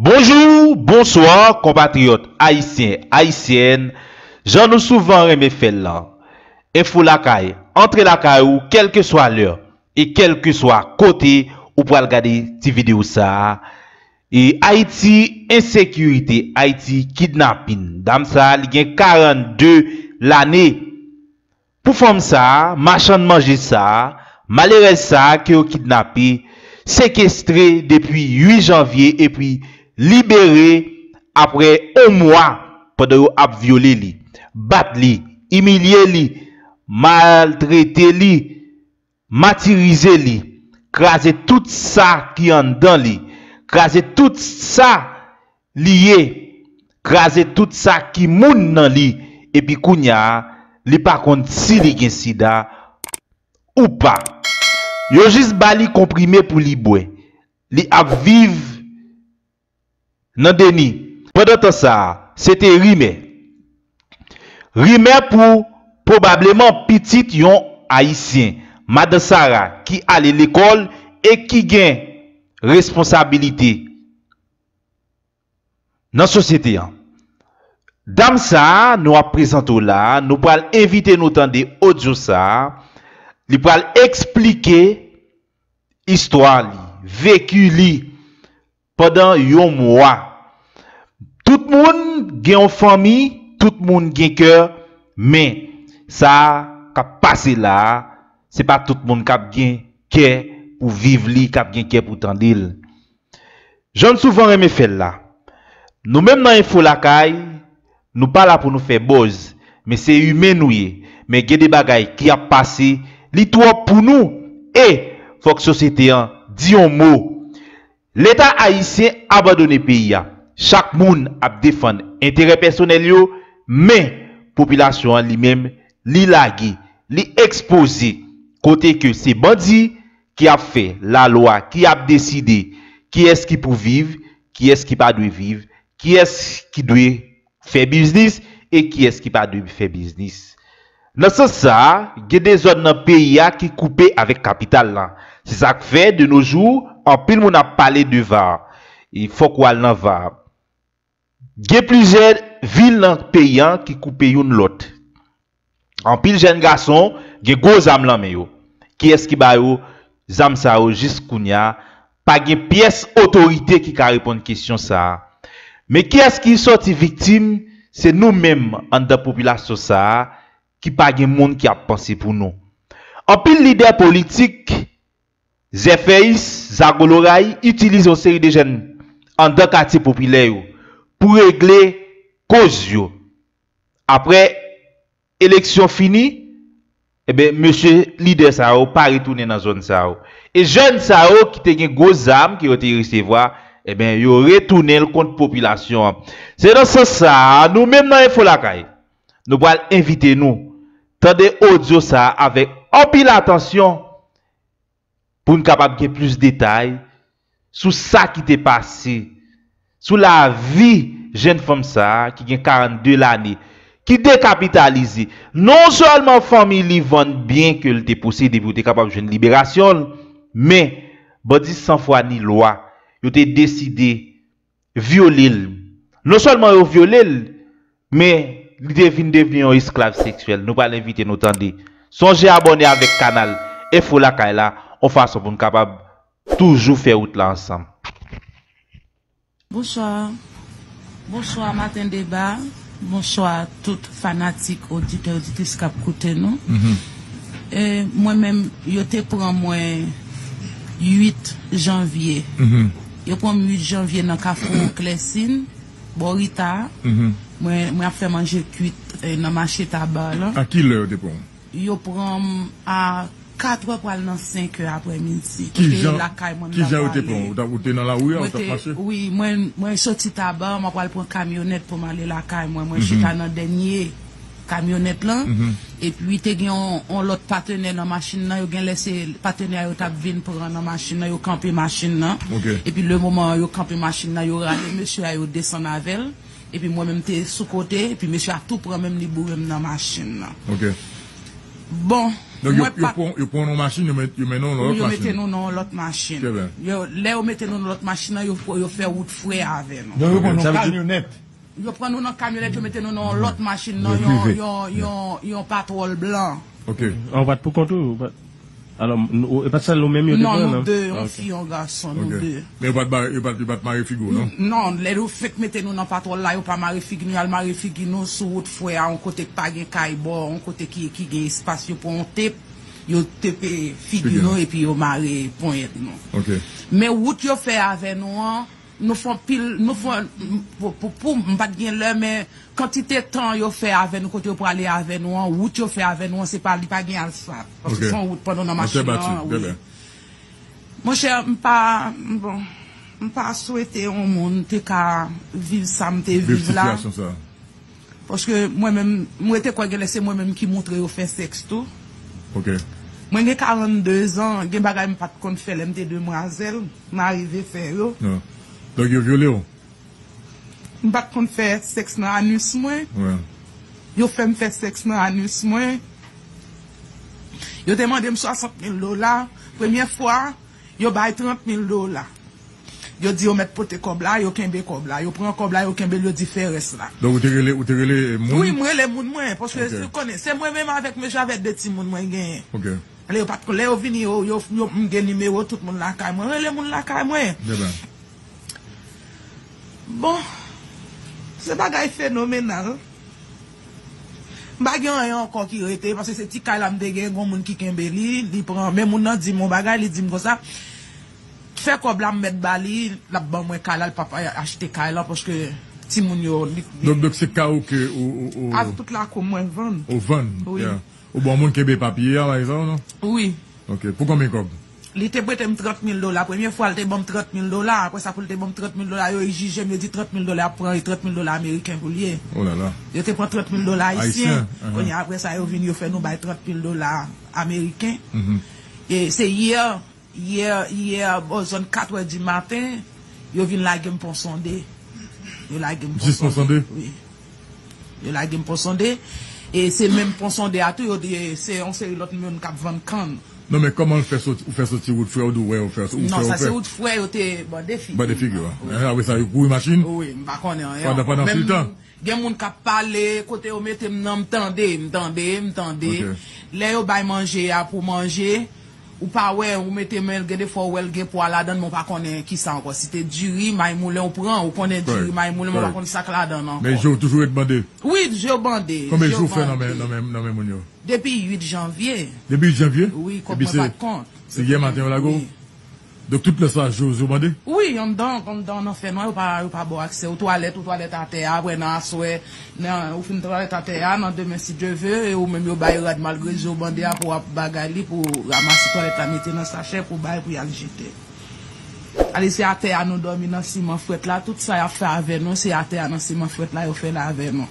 Bonjou, bonswa konpatriyòt ayisyen, ayisyèn, jan nou souvan renmen fè l lan. Enfo Lakay antre lakay ou kèlkeswa lè e kèlkeswa kote ou pral gade ti videyo sa a. E Ayiti ensekirite, Ayiti kidnapin. Dam sa a li gen 42 lane. Pou fanm sa, machann manje sa, malerèz sa ke yo kidnape, sekestre depi 8 janvye epi libere apre on mwa pandan yo ap vyole li, bat li, imilye li, maltrete li, Matirize li, kraze tout sa ki anndan li, kraze tout sa li ye, kraze tout sa ki moun nan li epi kounya li pa konn si li gen sida ou pa. Yo jis ba li konprime pou li bwè. Li ap viv nan deni pandan tan sa a se te rimè. Rimè pou pwobableman pitit yon Ayisyen, Madan Sara ki ale lekòl e ki gen responsabilite nan sosyete an. Dam sa a nou ap prezante w la a, nou pral envite nou tande odyo sa a, li pral eksplike istwa li, veki li pandan yon mwa. Tout moun gen yon fanmi, tout moun gen kè, men sa k ap pase la a, se pa tout moun k ap gen kè pou viv li, k ap gen kè pou tande l. Jan n souvan renmen fè l la, nou menm nan Enfo Lakay, nou pa la pou nou fè buzz, men se imen nou ye, men gen de bagay ki ap pase, li twòp pou nou e fòk sosyete an di yon mo. Leta ayisyen abandone peyi a, chak moun ap defann enterè pèsonèl yo, men popilasyon an li menm, li lage, li ekspoze, kote ke se bandi Ki ap fè, lalwa, ki ap deside kiyès ki pou viv, kiyès ki pa dwe viv, kiyès ki dwe fè biznis e kiyès ki pa dwe fè biznis. Nan sans sa a, gen de zòn nan peyi a ki koupe avèk kapital lan. Se sa k fè, de no jou, anpil moun ap pale de var. Fòk ou al nan var. Gen plizyè vil nan peyi an ki koupe youn lòt. Anpil jèn gason gen gwo zam lan men yo. Kiyès ki ba yo zam sa yo jis kounya? Pa gen pyès otorite ki ka reponn kesyon sa a. Men kiyès ki sòti viktim, se nou menm anndan popilasyon sa a ki pa gen moun ki ap panse pou nou. Anpil lidè politik. Zèfèyis, Zago Loray itilize yon seri de jèn andan katye popilè yo pou regle koz yo. Aprè eleksyon fini, enben mesye lidè sa yo pa retounen nan zòn sa yo. E jèn sa yo ki te gen gwo zam ke yo te resevwa, enben yo retounen l kont popilasyon an. Se nan sans sa a, nou menm nan Enfo Lakay, Nou pral envite nou tande odyo sa a avèk anpil atansyon pou n kapab gen plis detay sou sa ki te pase, sou lavi jenn fanm sa a ki gen 42 lane, ki dekapitalize. Non sèlman fanmi li vann byen ke l te posede pou yo te kapab jwenn liberasyon l, men bandi san fwa ni lwa yo te deside vyole l. Non sèlman yo vyole l, men li te vin devni yon esklav seksyèl. Nou pral envite nou tande. Sonje abòne avèk kanal Enfo Lakay la yon fason pou n kapab toujou fè wout la ansanm. Bonswa, bonswa maten deba, bonswa tout fanatik oditè oditris kap koute nou. Mwen menm yo te pran mwen 8 janvye Yo pran m 8 janvye nan kafou Clessin, bò Rita a. Mwen ap fè manje kuit nan mache Tabar lan. A ki lè yo te pran w? Yo pran m a katrè pral nan senkè aprè midi. Ki jan yo te pran w? Ou te nan lari a, ou t ap mache? Wi, mwen soti Tabar, mwen pral pran kamyonèt pou m ale lakay mwen. Mwen chita nan dènye. kamyonèt lan epi te gen yon lòt patenè nan machin nan yo genlè se patenè a yo tap vin pran nan machin nan yo kanpe machin nan epi le moman yo kanpe machin nan yo rale mesye a yo desann avèl epi mwen menm m te sou kote epi mesye a tou pran menm li bourem nan machin nan bon mwen pa yo pran w nan yon machin yo mete w nan yon lòt machin yo mete nou nan yon lòt machin lè yo mete nou nan lòt machin nan yo fè wout frè avè nou sa vle di Yo pran nou nan kamyonèt yo mete nou nan yon lòt machin nan yon patwòl blan. Ok. Ah ou pat pou kont ou? Alò e pat sèl nou menm yo te pran nan? Non nou 2, yon fi yon gason, nou 2. Men yo pat mare figi w non? Non, lè yo fenk mete nou nan patwòl la yo pa mare figi nou, y'al mare figi nou sou wout fwè a yon kote k pa gen kay bò, yon kote ki gen espas yo pran yon tep, yo tepe figi nou epi yo mare ponyèt nou. Ok. Men wout yo fè avè nou an Nou fon pil nou fon pou pou m pat gen lè men kantite tan yo fè avè nou kote yo prale avè nou an wout yo fè avè nou an se pa li pa gen asfalt paske son wout pandan nan machin nan wi monchè m pa bon m pa swete yon moun te ka viv sa m te viv la. Paske mwen menm, m rete kwè genlè se mwen menm ki montre yo fè sèks tou. Mwen gen 42 zan, gen bagay m pat konn fè lè m te demwazèl, m arive fè yo. Donk yo vyole w? M pat konn fè sèks nan anus mwen. Yo fè m fè sèks nan anus mwen. Yo te mande m 60 mil dola. Premye fwa. Yo bay 30 mil dola. Yo di yo mèt pote kòb la, yo kenbe kòb la. Yo pran kòb la, yo kenbe l, yo di fè rès la. Donk ou te rele, ou te rele moun? Wi, m rele moun mwen, paske ou konnen, se mwen menm avèk mesye avèk 2 timoun mwen genyen. Ok. Lè yo pa t kon, lè yo vini yo, yo, yo, m gen nimewo tout moun lakay mwen. M rele moun lakay mwen. Byen ba. Bon, se bagay fenomenal. M pa gen anyen ankò ki rete paske se ti kay la m te gen gon moun ki kenbe li li pran men moun nan dim yon bagay li dim konsa fè kòb la m mèt ba li lap ban mwen kay la l pap achte kay lan paske timoun yo li t gen Donk se kay ou ke ou Avk tout lakou mwen vann ou vann wi ou ba yon moun kenbe papye a bay sa ou non wi ok pou konbyen kòb. Li te prete m trant mil dola. Premye fwa l te ban m trant mil dola. Apre sa pou l te ban m trant mil dola, yo ijije m, yo di trant mil dola y ap pran e trant mil dola ameriken pou l ye. Yo te pran trant mil dola ayisyen. Kounye a apre sa yo vin yo fè nou bay trant mil dola ameriken. E se yè, yè, yè bò zòn katwè di maten, yo vin lage m Ponsonde. Yo lage m Ponsonde. Jis Ponsonde? Wi. Yo lage m Ponsonde, e se menm Ponsonde a tou yo di se yon seri lòt moun k ap vann kann. Non men kòman l fè soti, ou fè soti wout frè ou di w wè ou fè, ou fè ou fè. Non sa se wout frè yo te bande figi. Bande figi w. Ehe apre sa yo kouri machin? Wi, m pa konnen anyen ankò. Pandan tout tan? Gen moun k ap pale, kote yo mete m nan m tande, m tande, m tande. Lè yo bay manje a pou manje. Ou pa wè, ou mete men l, gen de fwa ou wè l gen pwa ladan l men w pa konnen ki sa ankò. Si te diri may moulen ou pran, ou konnen diri may moulen men w pa konn sa k ladan l ankò. Men je w toujou ret bande? Wi, je w bande. Konbyen jou w fè nan men moun yo? Depi 8 janvye. Depi 8 janvye? Wi, kòb mwen pa t kont. Se yè maten yo lage w? Donk tout lè sa Jose yo mande? Wi, anndan anndan nan fènwa yo pa yo pa ba w aksè. Ou twalèt ou twalèt atè a, aprè nan aswè nan ou fin twalèt atè a, nan demen si Dye ve e ou menm yo bay rad malgre je w bande a pou w ap bagay li pou w ramase twalèt la mete nan sachè pou w bay pou y al jete. Ale se atè a nou dòmi nan siman frèt la tout sa y ap fè avè nou se atè a nan siman frèt la yo fè l avè nou.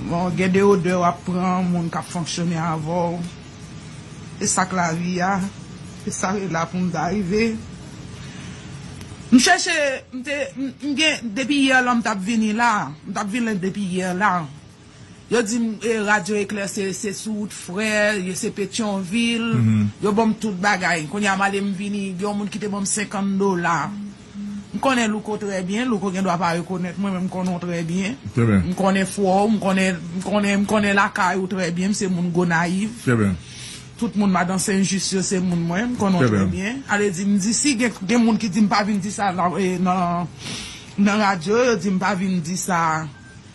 Bon gen de odè w ap pran moun k ap fonksyone avè w. E sak lavi a, e sa yo la pou m ta rive. M chèche, m te, m gen, depi yè lan m tap vini la, m tap vini depi yè la. Yo di m e radyo eklè se, se sou wout frè, yo se petyonvil, yo ban m tout bagay. Kounye a m ale m vini, gen yon moun ki te ban m 50 dola. M konnen Louko trè byen, Louko gen dwa pa rekonèt mwen men m konnen w trè byen. M konnen fwa w, m konnen m konnen lakay ou trè byen, m se moun Gonayiv. Tout moun Madan Senjis yo se moun mwen, m konnen w trè byen. Ale di m di si gen moun ki di m pa vin di sa nan radyo, yo di m pa vin di sa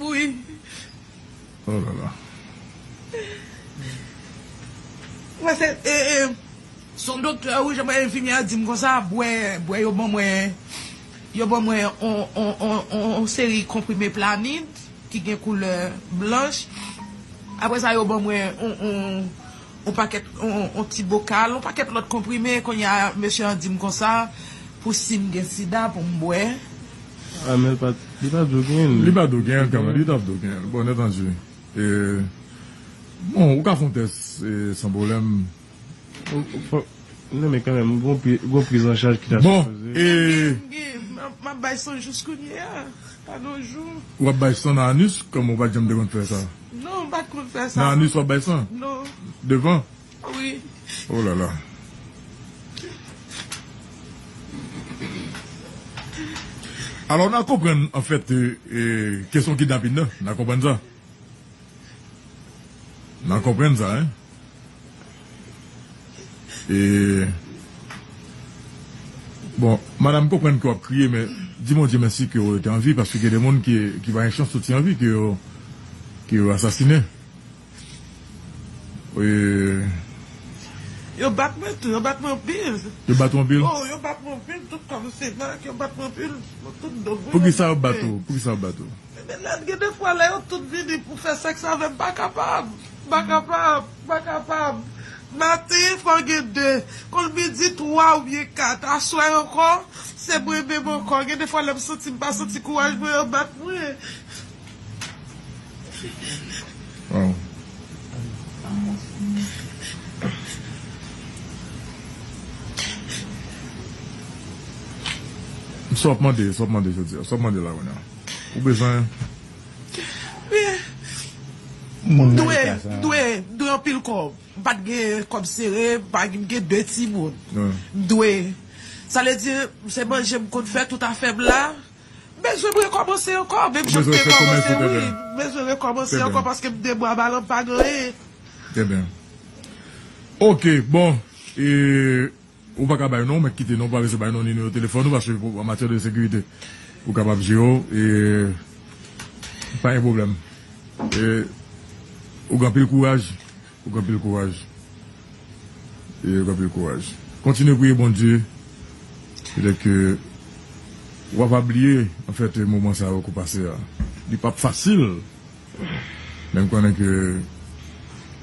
Wi. Oh la la. Mwen se e e son doktè wi jan mwen enfimyè a dim konsa bwè bwè yo ban mwen yo ban mwen on on on on seri konprime planid ki gen koulè blanch aprè sa yo ban mwen on on on pakèt on ti bokal, on pakèt lòt konprime, kounye a mesye an di m konsa pou si m gen sida pou m bwè. A men l pa li pa dwe genyen l. Li pa dwe genyen l kanmenm, li ta p dwe genyen l bon etandye e bon ou ka fè on tès e san pwoblèm. Nan men kanmenm gon priz an chaj ki ta sipoze. Bon e. M gen m ap bay san jous kounye a pa gon jou. Ou ap bay san nan anus? Kòman ou pa janm te konn fè sa? Non m pat konn fè sa. Nan anus wap bay san? Non. Devan? Wi. Oh lala. Alò na konprann anfèt kesyon kidnapin nan, na konprann sa? Na konprann sa hein? Bon madam m konprann ke w ap kriye men di Bondye mèsi ke w rete an vi paske gen de moun ki pa gen chans soti an vi ke yo asasinen. Yo bat mwen tou, yo bat mwen anpil. Yo bat ou anpil? Oh yo bat mwen anpil, tout kò m se mak, yo bat mwen anpil, tout do m wi yo bat mwen. Poukisa yo bat ou? Poukisa yo bat ou? Men Mennad gen de fwa lè yo tout vini pou fè sèks avè m m pa kapab, m pa kapab, m pa kapab. Maten fò gen de, konn midi twa oubyen kat. Aswè ankò, se mwen menm ankò. Gen de fwa lè m santi m pa santi kouraj mwen an bat mwen. Sa w ap mande, sa w ap mande jodi a? Sa w ap mande la kounye a? Ou bezwen Mwen dwe Mwen dwe Mwen dwe anpil kòb Mwen pa t gen kòb sere Mwen gen 2 timoun Mwen dwe Sa vle di se manje mwen konn fè tout afè m la Mwen bezwen m rekòmanse ankò Menm jan m te kòmanse wi Mwen bezwen rekòmanse ankò paske m te bwa balan m pa gen anyen Trè byen Ok bon E Ou pa ka bay non w mèt kite non parese bay non ni nimewo telefòn ou paske pou an matyè de sekirite ou kapab jere w e pa gen pwoblèm e ou gen anpil kouraj ou gen anpil kouraj e ou gen anpil kouraj kontinye priye Bondye petèt ke wa va bliye anfèt moman sa yo ke w pase a li pap fasil. Men konnen ke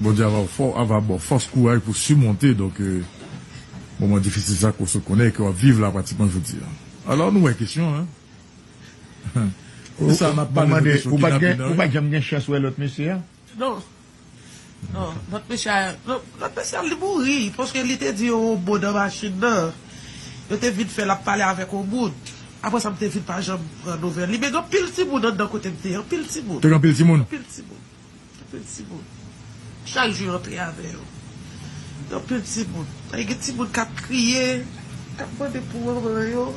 Bondye ava fò ava baw fòs kouraj pou simonte donk moman difisil sa ke w sot konnen e ke wap viv la pratikman jodi a. Alò nou wè kesyon an Ou pa janm gen chans wè lòt mesye a? Non, lòt mesye a, lòt mesye a li mouri paske li te di yon mo nan machin nan. Yo te vin fè l ap pale avèk yon moun. Apre sa m te vin pa janm pran nouvèl li men gen anpil timoun anndan kote m te ye, anpil timoun. Te gen anpil timoun? Anpil timoun. Anpil timoun. Chak jou yo antre avè yo. Gen anpil timoun. Dayè gen timoun k ap kriye, k ap mande pou manman yo.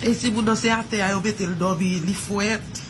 E timoun nan se atè a yo mete l dòmi, li frèt.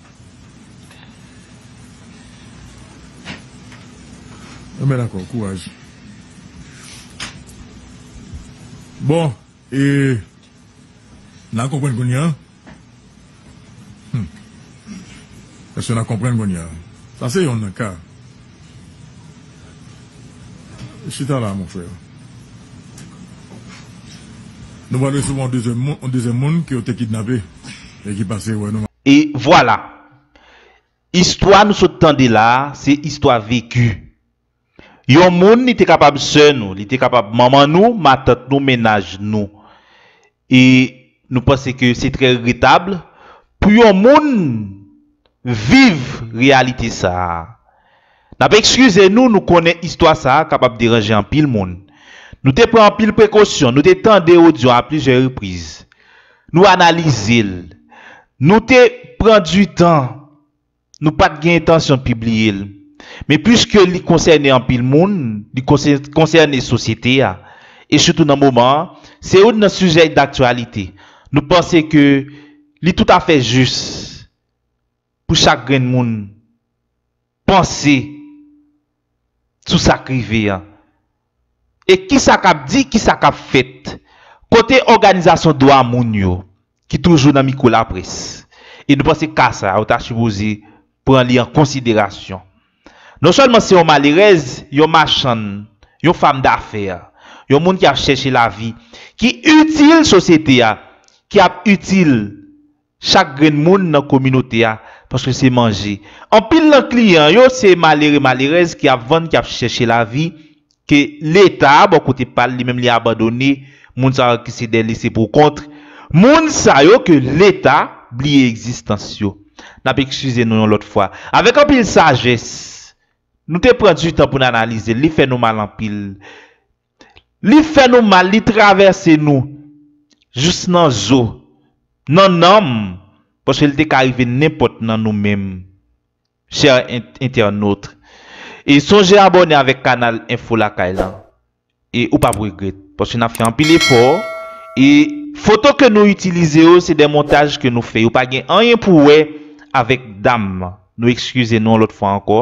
Anben dakò, kouraj. Bon, e nan konprann kounye an? Hum. Èske nan konprann kounye an? Sa se yonn nan ka. Chita la, mon frère. Nou pral resevwa yon dezyèm moun ke yo te kidnape e ki pase wè nou. E vwala! Istwa nou sot tande la a, se istwa veki. Yon moun, li te kapab sè nou, li te kapab manman nou, matant nou, mennaj nou. E nou panse ke se trè regretab pou yon moun viv reyalite sa a. N ap ekskize nou, nou konnen istwa sa a kapab deranje anpil moun. Nou te pran anpil prekosyon, nou te tande odyo a plizyè repriz, nou analize l, nou te pran di tan, nou pa t gen entansyon pibliye l. Men piske li konsène anpil moun, li konsène sosyete a, e sitou nan moman an, se youn nan sijè daktyalite, nou panse ke li toutafè jis pou chak grenn moun panse sou sa k rive an e ki sa k ap di, ki sa k ap fèt. Kote òganizasyon dwa moun yo ki toujou nan mikwo laprès? E nou panse ka sa a yo ta sipoze pran li an konsiderasyon. Non sèlman se yon malerèz, yon machann, yon fam dafè, yon moun ki ap chèche lavi, ki itil sosyete a, ki ap itil chak grenn moun nan kominote a paske se manje anpil nan kliyan yo se malere malerèz ki ap vann ki ap chèche lavi ke leta bò kote pal li menm li abandone moun sa yo ki se dè lese pou kont moun sa yo ke leta bliye egzistans yo nap ekskize nou yon lòt fwa avèk anpil sajès nou te pran du tan poun analizel li fè nou mal anpil. Li fè nou mal, li travèse nou jous nan zo, nan nanm, paske li te ka rive nenpòt nan nou menm chè entènot. E sonje abòne avèk kanal Enfo Lakay lan e ou pap regrèt paske nap fè anpil efò e foto ke nou itilize yo se de montaj ke nou fè yo pa gen anyen pou wè avèk dam nan. Nou ekskize nou yon lòt fwa ankò.